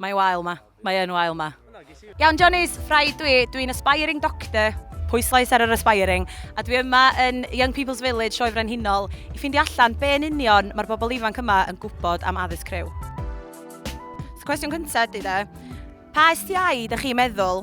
Mae wael ma. Mae yn wael ma. Iawn Johnny's, rhaid dwi, dwi'n aspiring doctor, pwyslais ar yr aspiring, a dwi yma yn Young People's Village, Sioe Frenhinol, i ffindio allan be yn union mae'r bobl ifanc yma yn gwybod am addysg criw. So cwestiwn cyntaf ydy de, pa STI dych chi'n meddwl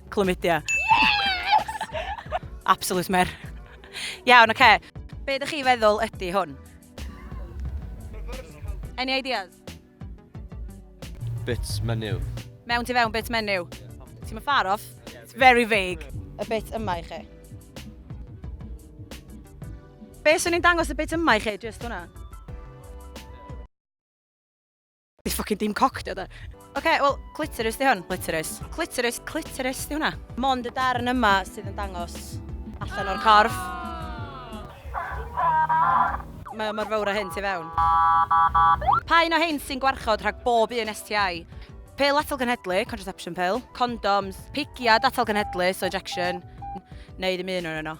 Chlamydia. Yes! Absolute mer. Iawn, oce. Be ydych chi feddwl ydy hwn? Any ideas? Bits menu. Mewn ti fewn bits menu? Ti'n mynd far off? It's very vague. Y bit yma i chi. Be sy'n ni'n dangos y bit yma i chi, just hwnna? Di ffocin dim coc di o da. Oce, wel, clitoris di hwn. Clitoris. Clitoris, clitoris di hwnna. Mond y darn yma sydd yn dangos allan o'r corff. Mae o mor fawr o hyn ti fewn. Pa un o hyn sy'n gwarchod rhag bob un STI? Pil atal genhedlu, contraception pill, condoms, pigiad atal genhedlu, so injection, neu ddim un o'n yno.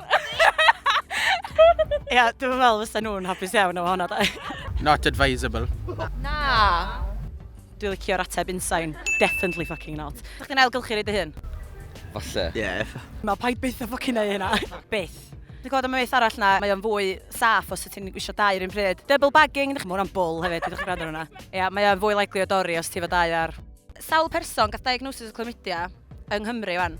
Ia, dwi'n meddwl fysa nhw'n hapus iawn o hwnna, da. Not advisable. Na. Dwi'n licio'r ateb unsain. Definitely fucking not. Dych chi'n ailgylchu rei dy hun? Falle. Yeah. Na, paid byth o fucking ei hynna. Byth. Dwi'n gwybod am y myth arall na, mae o'n fwy saff os ti'n gwisio dau rhywun pryd. Double bagging, mae hwnna'n bwl hefyd, dwi'n gwrando hwnna. Ia, mae o'n fwy likely o dori os ti fo dau ar. Sawl person gath diagnosis o chlamydia yng Nghymru wan?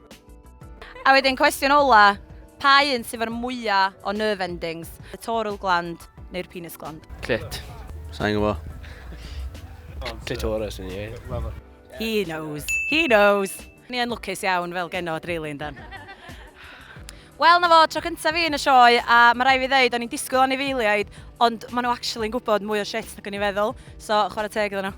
A wedyn cwestiwn ola, pa un sydd efo'r mwyaf o nerve endings? Y toral gland neu'r penis gland? Clit. Sa'n gwybod. Clitoris yn ie. He knows. He knows. Ni yn lwcus iawn fel geno dreulyn dan. Wel na fo, tro cyntaf fi yn y sioe a mae rai fi ddeud o'n i'n disgwyl anifeiliaid ond maen nhw actually yn gwybod mwy o shit nag o'n i'n feddwl so chwarae teg iddyn nhw.